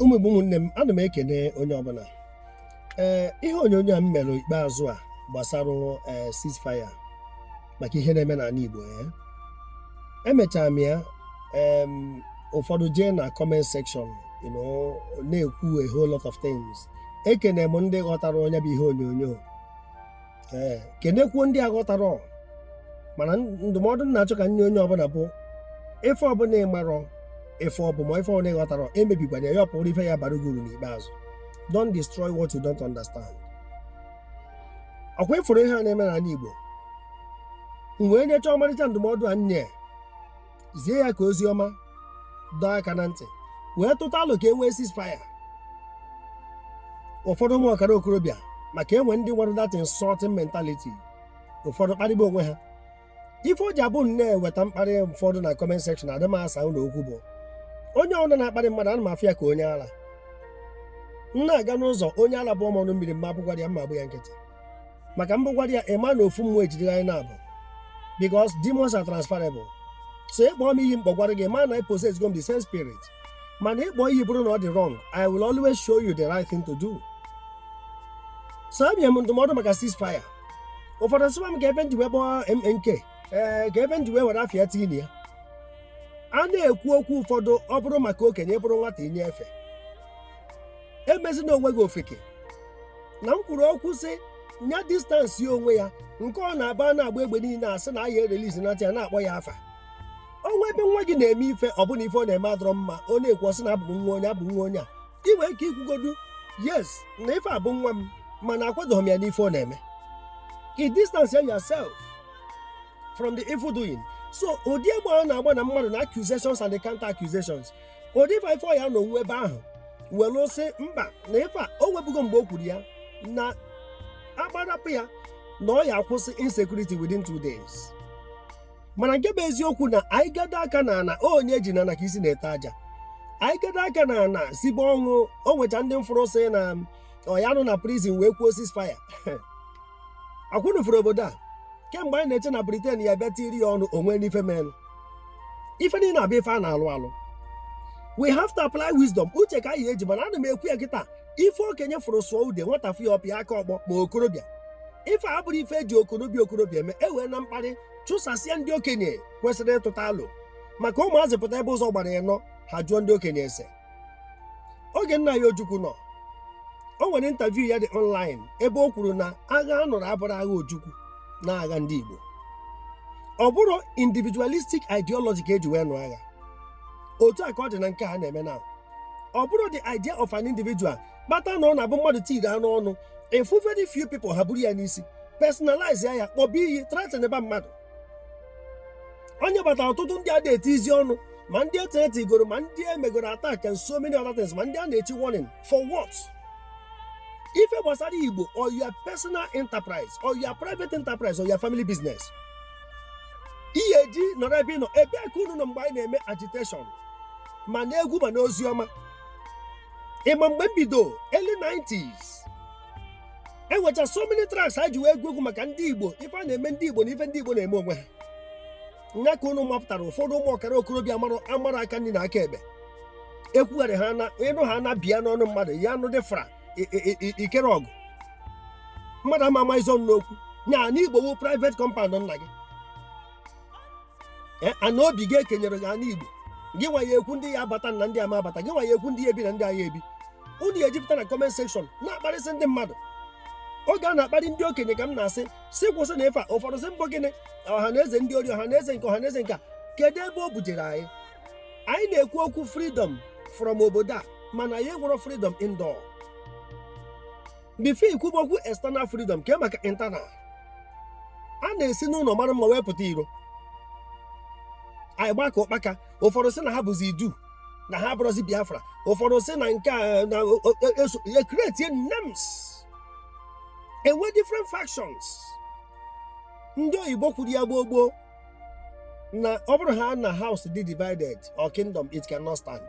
ụmụ igbo ụmụnne m ana m ekene onye ọbụla ee eh, ihe onyonyo a m mere ikpeazụ a gbasara eh, ceasefire maka ihe na-eme n'ala igbo ya eh. emechara m ya ụfọdụ jee na comment section na-ekwu a whole lot of things ekene m ndị ghọtara nya bụ ihe onyonyo ee kenekwuo ndị aghọtarọ. mana ndụmọdụ m na-achọ ka m nye onye ọbụla bụ ife ọbụla ị marọ ife ọ bụ ma ife ọbụla ị ghọtarọ emebikwana ya ya bụrụ ife ya-abara gị uru n'ikpeazụ don't destroy what you don't understand ọkwa ị fụrụ ihe a na-eme n'ala Igbo m wee nyechaa ọmarịcha ndụmọdụ a m nye zie ya ka ozi ọma dọọ aka na ntị wee tụta alo ka e nwee ceasefire ụfọdụ ụmụ ọkara okorobịa maka e nwe ndị nwere that insulting mentality ụfọdụ kparịba onwe ha ife o ji abụ na e weta mkparị ụfọdụ na comment section adị m asa ụnụ okwu bụ onye ọbụla na-akparị mmadụ ana m afụ ya ka onye ala m na-aga n'ụzọ onye ala bụọ m ọnụ mmiri m ma abụgwara ya m agba ya nkịtị maka m bụgwara ya ị ma na ofu mmụọ ejidere anyị naabọ because demons are transferable so ị kpọọ m iyi m kpọgwara gị ị ma na ị possessgo m the same spirit mana ị kpọọ iyi bụrụ na ọ dị wrong I will always show you the right thing to do so abịa m ndụmọdụ maka ceasefire ụfọdụ sịwa m ka ife m ji wee kpọọ MNK ee ka ife m ji wee were afa ya tinye ya a na-ekwu okwu ụfọdụ ọ bụrụ maka okenye ị bụrụ nwata i nye efe emezina onwe gị ofeke na m kwuru okwu sị nya distance onwe ya nke ọ na-aba na-agba egbe niile a sị na ahịa erelizi na ya na-akpọ ya afa o nwe ebe nwa gị na-eme ife ọ bụ na ife ọ na-eme adọrọ mma a na-ekwu a sị na ọ bụ nwa onye ọ bụ nwa onye a ị nwere ike ikwugodu yes na ife a bụ nwa m mana akwadoghị m ya n'ife ọ na-eme i distance yourself from the evil doing so ụdị egbe ọ na-agba na mmadụ na accusations and the counter accusations odifa ife ọ ya-anọ onwe ebe ahụ were sị mba na ife a o nwebugo mgbe o kwuru ya na a gbarapụ ya na ọ ya-akwụsị insecurity within two days mana nke bụ eziokwu na anyị gado aka na ana onye e ji na ana ka isi na-ete aja anyị gado aka na ana sibe ọnwụ o nwecha ndị m fụrụ sị na ọ ya-anọ na prison wee kwuo ceasefire ọkwa ụnụ fụrụ obodo a kemgbe anyị na-eche na Britain ya-abịa tinye ya ọnụ o nwenụ ife menụ ife niile abụ ife a na-alụ alụ we have to apply wisdom uche ka a ya-eji mana ana m ekwu ya kịta ife okenye fụrụ sụọ ude nwata fụ ya ọ pịa aka ọkpọ ma okorobịa ife a bụrụ ife e ji okorobịa okorobịa eme eweena mkparị chụsasịa ndị okenye kwesịrị ịtụta alo maka ụmụazị pụta ebe ụzọ gbara ịnọ ha jụọ ndị okenye ese oge nna anyị ojukwu nọ o nwere interview ya dị online ebe o kwuru na agha a nụrụ abụrọ agha ojukwu na agha ndị igbo ọ bụrọ individualistic ideology ka eji wee nụ agha otu a ka ọ dị na nke a na-eme now ọ bụrọ the idea of an individual kpata na ọ na-abụ mmadụ tiri anụ ọnụ ị fụ very few people ha buru ya n'isi personalize ya ya kpọba iyi threaten ba mmadụ onye batara ọtụtụ ndị a na-eti izi ọnụ ma ndị e threaten goro ma ndị e megoro attack and so many other things ma ndị a na-echi warning for what ife gbasara igbo or your personal enterprise or your private enterprise or your family business ihe eji nọrọ ebe ị nọ ebee ka unu nọ mgbe anyị na-eme agitation ma n'egwu ma n'ozi ọma ị ma mgbe m bido early 90s enwecha so many tracks ha ji wee gụọ egwu maka ndị igbo ife a na-eme ndị igbo na ife ndị igbo na-eme onwe ha nya ka unu mapụtara ụfọdụ ụmụ ọkara okorobịa amarọ aka nri na aka ekpe ekwugharị ha na ịnụ ha na bịa n'ọnụ mmadụ ya anụ dị fra i- i- i- ikere ọgụ mmadụ ama ama ịzọnye ụkwụ n'anị igbo wu private compound nna gị Eh, ana obi gị e kenyere gị ana igbo gị nwa ya ekwu ndị ya abata na ndị ama abata gị nwa ya ekwu ndị ya ebi na ndị agha ebi unu ya ejupụta na comment section na-akparịsị ndị mmadụ oge a na-akparị ndị okenye ka m na-asị si kwụsịnụ ife a ụfọdụ sị m bụ gịnị ọha na eze ndị ori ọha na eze nke ọha na eze nke a kedu ebe o bujere anyị anyị na-ekwu okwu freedom from obodo a mana anyị enwerọ freedom indoor before i kwuba okwu external freedom kee maka internal a na-esi n'ụlọ mara mma wee pụta iro anyị gbaa ka ụkpaka ụfọdụ sị na ha bụzi idu na ha abụrọzi biafra ụfọdụ sị na nke a na o- o- o- eso- ya creatie names enwe different factions ndị oyibo kwuru ya gboo gboo na ọ bụrụ ha na house dị divided or kingdom it cannot stand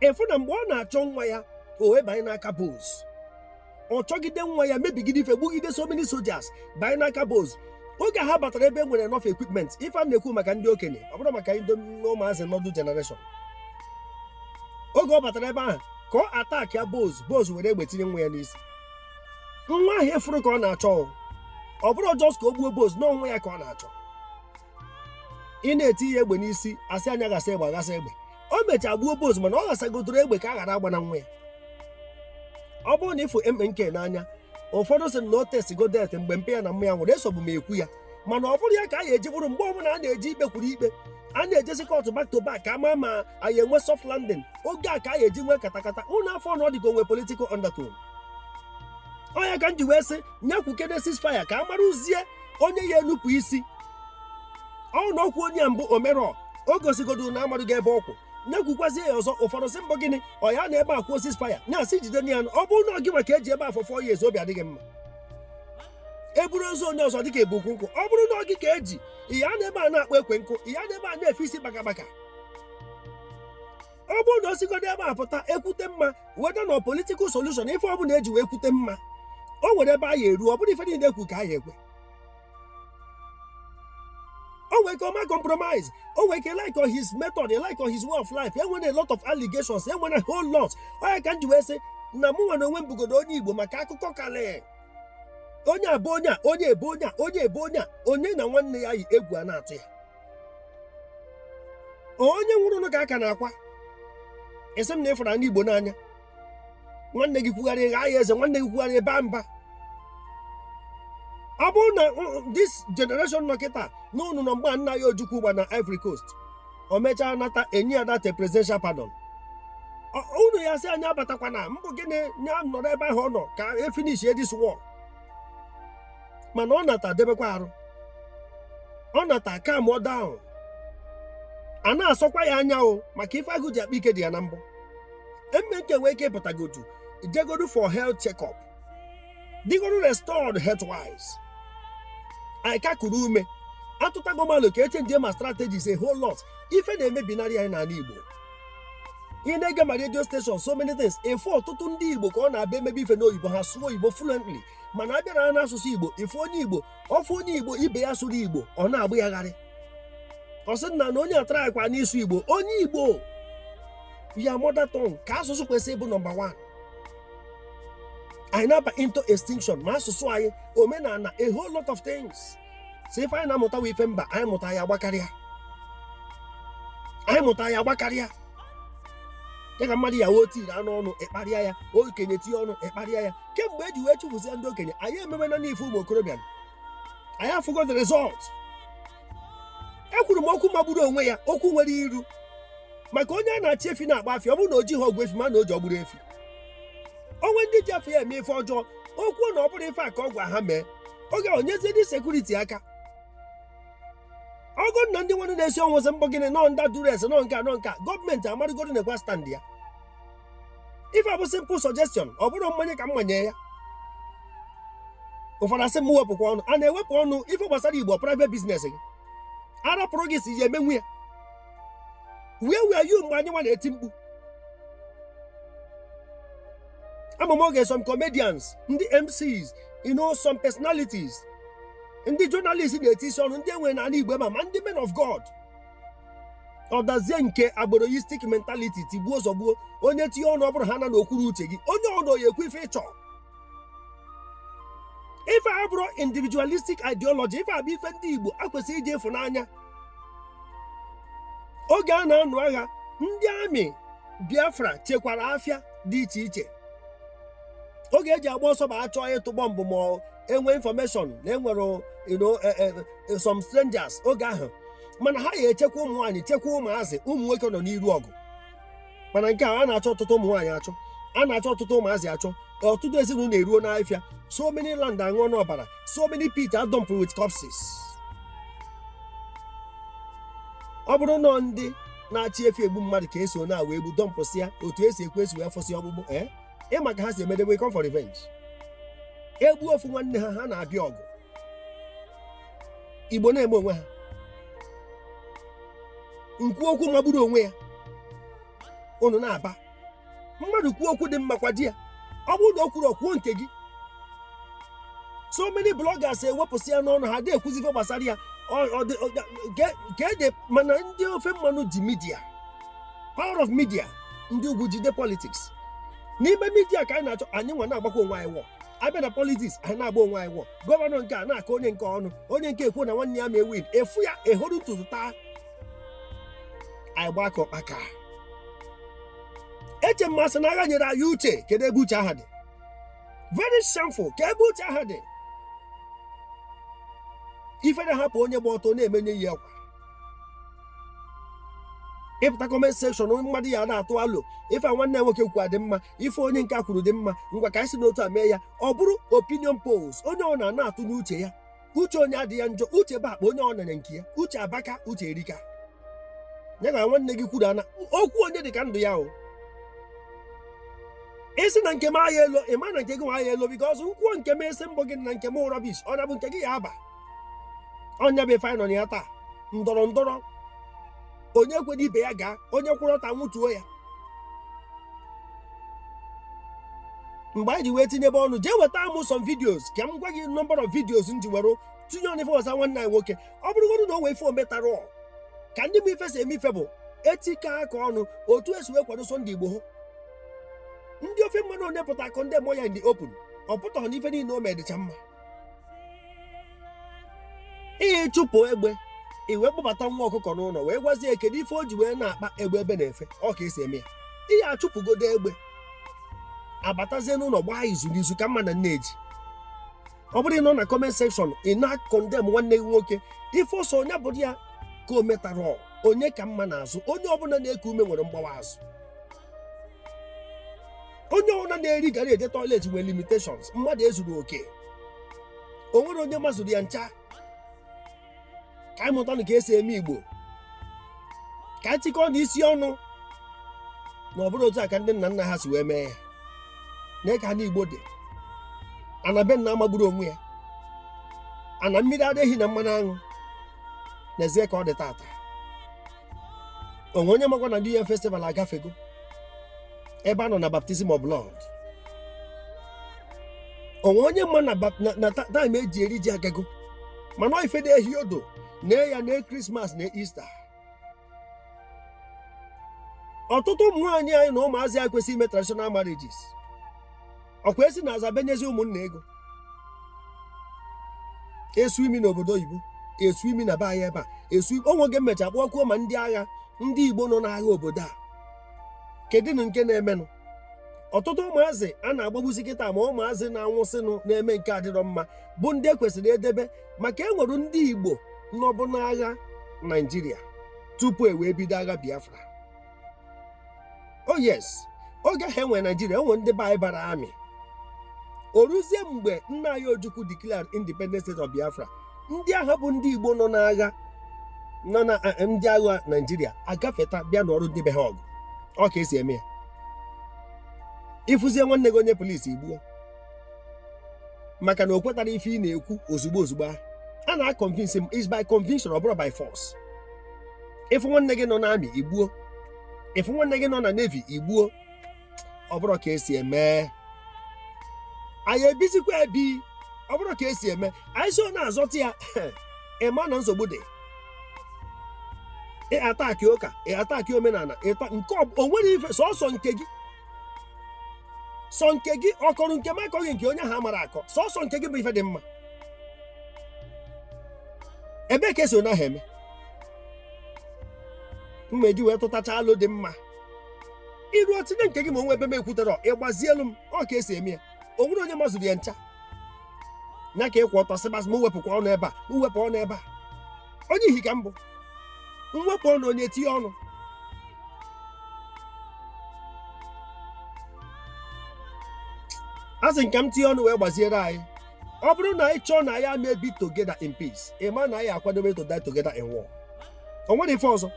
ị fụ na mgbe ọ na-achọ nwa ya o wee banye n'aka boss ọ chọgide nwa ya mebigide ife gbugide so many soldiers banye n'aka boss oge ha batara ebe e nwere enough equipment ife a m na-ekwu maka ndị okenye ọ bụrọ maka ndị ụmụazị noodle generation oge ọ batara ebe ahụ ka ọ attackịa boss boss were egbe tinye nwa ya n'isi nwa ahụ efuru ka ọ na-achọ o. ọ bụrọ just ka o gbuo boss na ọ nwa ya ka ọ na-achọ ị na-eti ya egbe n'isi asị nya ghasa egbe aghasa egbe o mechaa gbuo boss mana ọ ghasagotụrụ egbe ka a ghara agba na nwa ya ọ bụrụ na ịfụ MNK n'anya ụfọdụ sị na o testigo death mgbe mpa ya na mma ya nwụrụ esobu m ekwu ya mana ọ bụrụ ya ka a ga-eji bụrụ mgbe ọbụla a na-eji ikpe kwuru ikpe a na-ejezi kọtụ back to back ka a ma ma a ya-enwe soft landing oge a ka a ga-eji nwee katakata unu afụ na ọ dịka o nwe political undertone ọ nya ka m ji wee sị nya kwukene ceasefire ka a marazie onye ya-enupụ isi ọ bụrụ na o kwuo nya mbụ o merọ o gosigodo na amadụ ga ebe ọ kwụ nya ekwukwazie ya ọzọ ụfọdụ sị mbọ gịnị ọ ya-anọ ebe a kwuo ceasefire na-asị jide na ya ọ bụrụ na ọ gịwa ka eji ebe a for four years obi adịghị mma eburu ozu onye ọzọ dịka ebu ukwu nkụ ọ bụrụ na ọ gị ka eji ị ya-anọ ebe a na-akpọ ekwe nkụ ị ya-anọ ebe a na-efe isi bakabaka ọ bụrụ na o sigodo ebe a pụta ekwute mma weta na political solution ife ọbụla eji wee kwute mma o nwere ebe a ya-eru ọ bụrụ ife niile ekwu ka a ya-ekwe o nwere ike ọ ma compromise o nwere ike like on his method like on his way of life enwere a lot of allegations enwere a whole lot ọ nya ka m ji wee sị na mụnwa n'onwe m bụgodo onye igbo maka akụkọ karịa onye abụ onye a onye ebe onye a onye ebe onye a onye na nwanne ya yi egwu a na-atụ ya onye nwụrụ nụ ka a ka na-akwa ị sị m na ị fụrụ ana Igbo n'anya nwanne gị kwugharị ị gha ya eze nwanne gị kwugharị ị baa mba ọ bụrụ na this generation nọ kịta na unu nọ mgbe nna anyị Ojukwu gba na Ivory Coast o mechaa nata enye ya that presidential pardon unu ya-asị nya abatakwana mbụ gịnị ya nọrọ ebe ahụ ọ nọ ka e finish this war mana ọ nata debekwa arụ ọ nata calm down a na-asọkwa ya anya o maka ife agụ ji akpa ike dị ya na mbọ MNK nwee ike pụtagodu jegodu for health check-up dịgodu restored health wise anyị ka kuru ume atụtago malụ ka echenjie ma strategies a whole lot ife na-emebinarị anyị n'ana Igbo ị na-ege ma radio station so many things ị fụ ọtụtụ ndị Igbo ka ọ na-abịa emebe ife n'oyibo ha sụọ oyibo fluently mana a bịara n'asụsụ igbo ị fụ onye igbo ọ fụ onye igbo ibe ya sụrụ igbo ọ na-agba ya gharị ọ sị na na onye a traịkwa n'ịsụ igbo onye igbo ya mother tongue ka asụsụ kwesịrị ịbụ number 1 anyị na-aba into extinction ma asụsụ anyị omenana a whole lot of things so ife anyị na-amụtawa ife mba anyị mụta ya gbakarịa anyị mụta ya gbakarịa ya ka mmadụ ya wee tinye ọnụ ịkparịa ya okenye tinye ọnụ ịkparịa ya kemgbe eji wee chụpụsịa ndị okenye anyị ememe na n'ife ụmụ okorobịa anyị afụgo the result ekwuru m okwu magburu onwe ya okwu nwere iru maka onye a na-achị efi na-agba afịa ọ bụrụ na o jighị ọgwụ efi ma na o ji ọgbụrụ efi o nwe ndị ji afa ya eme ife ọjọọ o kwuo na ọ bụrụ ife a ka ọ gwa ha mee oge ahụ nyezie ndị sekuriti aka ọgụ na ndị nwanne na-esi ọnwụ sị m bụ gịnị nọ under duress nọ nke a nọ nke a gọọmenti amarịgoro na-ekwa stand ya ife a bụ simple suggestion ọ bụrụ mmanye ka m manye ya ụfọdụ asị m wepụkwa ọnụ a na-ewepụ ọnụ ife gbasara igbo private business gị a rapụrụ gị ị sị ị ya-emenwu ya where were you mgbe anyị nwa na-eti mkpu ama m oge some comedians ndị mcs you know some personalities ndị journalist na-etinyesi ọnụ ndị e nwere n'ala igbo ma ma ndị men of god ọ dazie nke agboroistic mentality tigbuo zọgbuo onye tinye ọnụ ọ bụrụ ha na o kwurọ uche gị onye ọbụna ya-ekwu ife ị chọ ife a abụrọ individualistic ideology ife a bụ ife ndị igbo akwesịrị iji ịfụnanya oge a na-anụ agha ndị army biafra chekwara afịa dị iche iche oge e ji agba ọsọ ma a chọọ ịtụ bọmbụ ma e nwee information na e nwere you know, eh, eh, eh, some strangers oge ahụ mana ha ya echekwa ụmụ nwaanyị chekwa ụmụazị ụmụ nwoke nọ n'iru ọgụ mana nke a a na-achọ ọtụtụ ụmụ nwaanyị achọ a na-achọ ọtụtụ ụmụazị achọ ọtụtụ ezinụlọ eruo n'afịa so many land aṅụọna ọbara so many pits are dumped with corpses ọ bụrụ na ndị na-achị efi egbu mmadụ ka esi na wee gbu dọmpụsịa otu esi ekwu esi wee fụsị ọgbụgbụ ee ị ma ka ha si emedebe come for revenge e gbuo ofu nwanne ha ha na-abịa ọgụ igbo na-eme onwe ha m kwuo okwu magburu onwe ya unu na-aba mmadụ kwuo okwu dị mma kwado ya ọ bụrụ na o kwurọ kwuo nke gị so many bloggers ewepụsịana ọnụ ha adịghị ekwuzi ife gbasara ya Ọ- ọ dị- ọ dị- ge- ka ede mana ndị ofe mmanụ ji media power of media ndị ugwu jide politics n'ime media ka anyị na-achọ anyị nwa na-agbakwa onwe anyị wọ a bịa na politics anyị na-agba onwe anyị wọ gọvanọ nke a na-akọ onye nke a ọnụ onye nke a ekwu na nwanne ya ama ewin efu ya ehoro ntutu taa anyị gbaa ka ụkpaka eche m a sị na agha nyere anyị uche kedu ebe uche ahụ dị very shameful kee ebe uche ahụ dị ifere ahapụ onye gba ọtọ na-eme onye yi akwa ị pụta comment section onye mmadụ ya na-atụ alo ife a nwanne nwoke kwukwa dị mma ife onye nke a kwuru dị mma ngwa ka anyị si n'otu a mee ya ọ bụrụ opinion polls onye ọbụna ana-atụnye uche ya uche onye adị ya njọ uche bụ akpa onye ọbụna nya nke ya uche abaka uche erika ya na nwanne gị kwuru ana okwu onye dị ka ndụ ya o ị sị na nke m ahịa elo ị ma na nke gị nwa ahịa elo because m kwuo nke m ị sị m bụ gị na nke m rubbish ọ na bụ nke gị ya aba ọ ya bụ ife anyị nọ na ya taa ndọrọ ndọrọ onye kwere ibe ya gaa onye kwụrụ ọtọ anwụtuo ya mgbe anyị ji wee tinyebe ọnụ jee weta amụ some videos ka m gwa gị number of videos m ji were tinye ọnụ ife ọzọ nwanne anyị nwoke ọ bụrụgodu na o nwee ife o metara ọ ka ndị bụ ife si eme ife bụ itikọ aka ọnụ otu esi wee kwado Sunday Igboho ndị ofe mmanụ onye pụta akọndemụọ ya in the open ọ pụtaghị na ife niile o me dịcha mma ihe ịchụpụ egbe i wee kpọbata nwa ọkụkọ n'ụnọ wee gwazie ya kedu ife o ji wee na-akpa egbe ebe na-efe ọ ka esi eme ya ihe achụpụgodo egbe abatazie n'ụnọ gbaa izu na izu ka mma na nne ji ọ bụrọ ịnọ na comment section ị na-akọndem nwanne gị nwoke ife ọ sọ onye bụrụ ya ka o metara onye ka mma n'azụ onye ọbụla na-eku ume nwere mgbawa azụ onye ọbụla na-eri garri eje toilet nwere limitations mmadụ ezuru oke o nwerọ onye mazuru ya ncha ka anyị mụtanụ ka esi eme igbo ka anyị chịkọọnụ isi ọnụ na ọ bụrụ otu a ka ndị nna nna ha si wee mee ya na ka ana igbo dị ana be nna amagburu onwe ya ana mmiri ara ehi na mmanụ aṅụ n'ezie ka ọ dị taata o nwe onye makwa na New Yam Festival agafego ebe a nọ na baptism of blood o nwe onye ma na bap- na- na ta- time eji eri ji agago mana ọ ife dị ehi odo na ya na Christmas na Easter ọtụtụ ụmụ nwaanyị anyị na ụmụazị anyị kwesịrị ime traditional marriages ọ kwa esi n'azụ abenyezi ụmụnna ego esu imi n'obodo oyibo esu imi na be anyị ebe a esu o nwe oge m mecha kpọkuo ma ndị agha ndị igbo nọ n'agha obodo a kedụnụ nke na-emenụ ọtụtụ ụmụazị a na-agbagbusi kịta ma ụmụazị na-anwụsịnụ na-eme nke adịrọ mma bụ ndị e kwesịrị idebe maka e nwere ndị igbo nọbu n'agha naijiria tupu e wee bido agha biafra o oh, yes oge ahụ e nwe naijiria e nwe ndị be anyị bara army o ruzie mgbe nna anyị ojukwu declare independent state of biafra ndị agha bụ ndị igbo nọ n'agha nọ na eh, eh, ndị agha naijiria agafeta bịa nụọrọ ndị be ha ọgụ ọ ka esi eme ya ị fụzie nwanne gị onye police i gbuo maka na o kwetarọ ife ị na-ekwu ozugbo ozugbo ahụ a na-akọnvinsi m is by conviction ọ bụrọ by force ị fụ nwanne gị nọ n'army i gbuo ị fụ nwanne gị nọ na navy i gbuo ọ bụrọ ka esi eme anyị ebizikwa ebi ọ bụrọ ka esi eme anyị so na-azọta ya ị ma na nsogbu dị ị attack ụka ị attack omenala ịta nke ọ- o nwere ife sọsọ nke gị sọ nke gị ọkọrọ nke m akọghị nke onye ahụ amara akọ sọsọ nke gị bụ ife dị mma ebee ka esi onye ahụ eme mma eji wee tụtacha alo dị mma i ruo i tinye nke gị ma o nwee ebe m ekwutere ị gbazielu m ọ ka esi eme ya o nwere onye mazuru ya ncha nya ka ị kwụ ọtọ sịbasị m wepụkwa ọnụ ebe a m wepụ ọnụ ebe a onye ihi ka m bụ m wepụ ọnụ onye tinye ọnụ a sị ka m tinye ọnụ wee gbaziere anyị ọ bụrụ na anyị chọọ na anyị ma-ebi together in peace ị ma na anyị akwadobe to die together in war o nwere ife ọzọ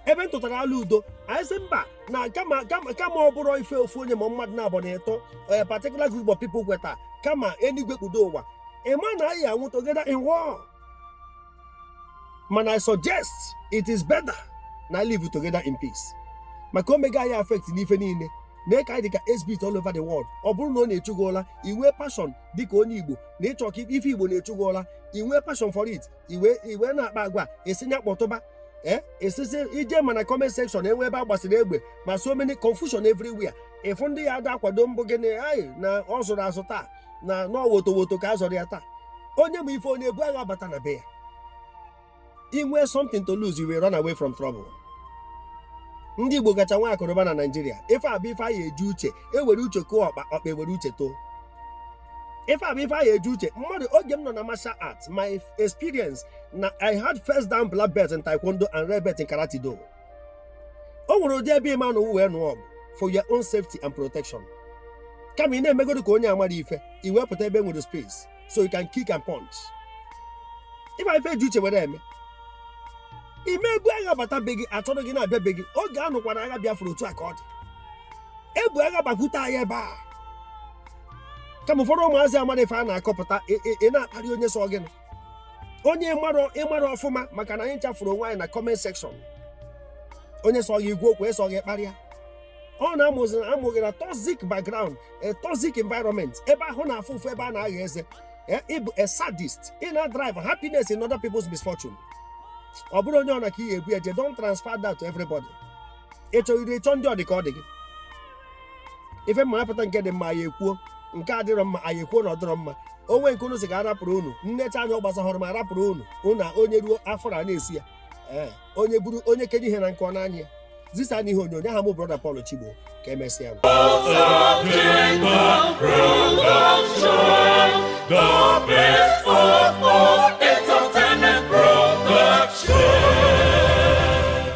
ebe m tụtara alo udo anyị sị mba na kama kama kama ọ bụrụ ife ofu onye ma mmadụ naabọ na ịtọ a particular group of people kweta kama enigwe kpudo ụwa ị ma na anyị anwụ together in war mana i suggest it is better na anyị live together in peace maka o mega anyị affect n'ife niile na ka anyị dịka exhibit all over the world ọ bụrụ na ọ na-echu gị ụla i nwee passion dịka onye igbo na ị chọ ka ife igbo na-echu gị ụla i nwee passion for it i wee i wee na-akpa agwa e si nya kpọtụba ee esizi eje ma na comment section e nwee ebe a gbasiri egbe ma so many confusion everywhere ị fụ ndị ya ada akwado mbụ gị na anyị na ọ zụrụ azụ taa na ọ wotowoto ka a zọrọ ya taa onye ma ife ọ na-ebu agha bata na be ya i nwee something to lose you will run away from trouble ndị igbo kacha nwe akụ na ụba na naijiria ife a bụ ife anyị eji uche ewere uche kụọ ọkpa ọkpa ewere uche too ife a bụ ife anyị eji uche mmadụ oge m nọ na martial arts my experience na i had first dan black belt in taekwondo and red belt in karate do o nwere ụdị ebe ị ma-anọ wee nụọ ọgụ for your own safety and protection kama ị na-emegodo ka onye amara ife i wee pụta ebe nwere space so you can kick and punch ị ma ife e ji uche were eme ị ma-ebu agha bata be gị achọrọ gị na-abịa be gị oge a nụkwara agha Biafra otu a ka ọ dị ebu agha gbakwute anyị ebe a kama ụfọdụ ụmụazị amara ife a na-akọpụta ị na-akparị onye sọ gịnị onye ị mara ị mara ọfụma maka na anyị ncha fụrụ onwe anyị na comment section onye sọ gị ị gwa okwu sọ gị kparịa ọ na a mụ gị na a mụ gị na toxic background a toxic environment ebe ahụ na-afụ ụfụ ebe a na-agha eze eh, ị bụ a sadist ị na-derive happiness in other people's misfortune ọ bụrụ onye ọ na ka ị ga-ebu eje don't transfer that to everybody ị chọghịrị ị chọọ ndị ọ dị ka ọ dị gị ife mma apụta nke dị mma anyị ekwuo nke a dịrọ mma anyị ekwuo na ọ dịrọ mma o nwee nke unu si ka arapụrụ unu m nechaa anya ọ gbasahụrụ m arapụrụ unu unu a onye ruo afọ a na-esu ya ee onye buru onye kenye ihe na nke ọ n'anya ya zisa n'ihe onyonyo aha m brọda Paul Chigbo ka emesịa nụ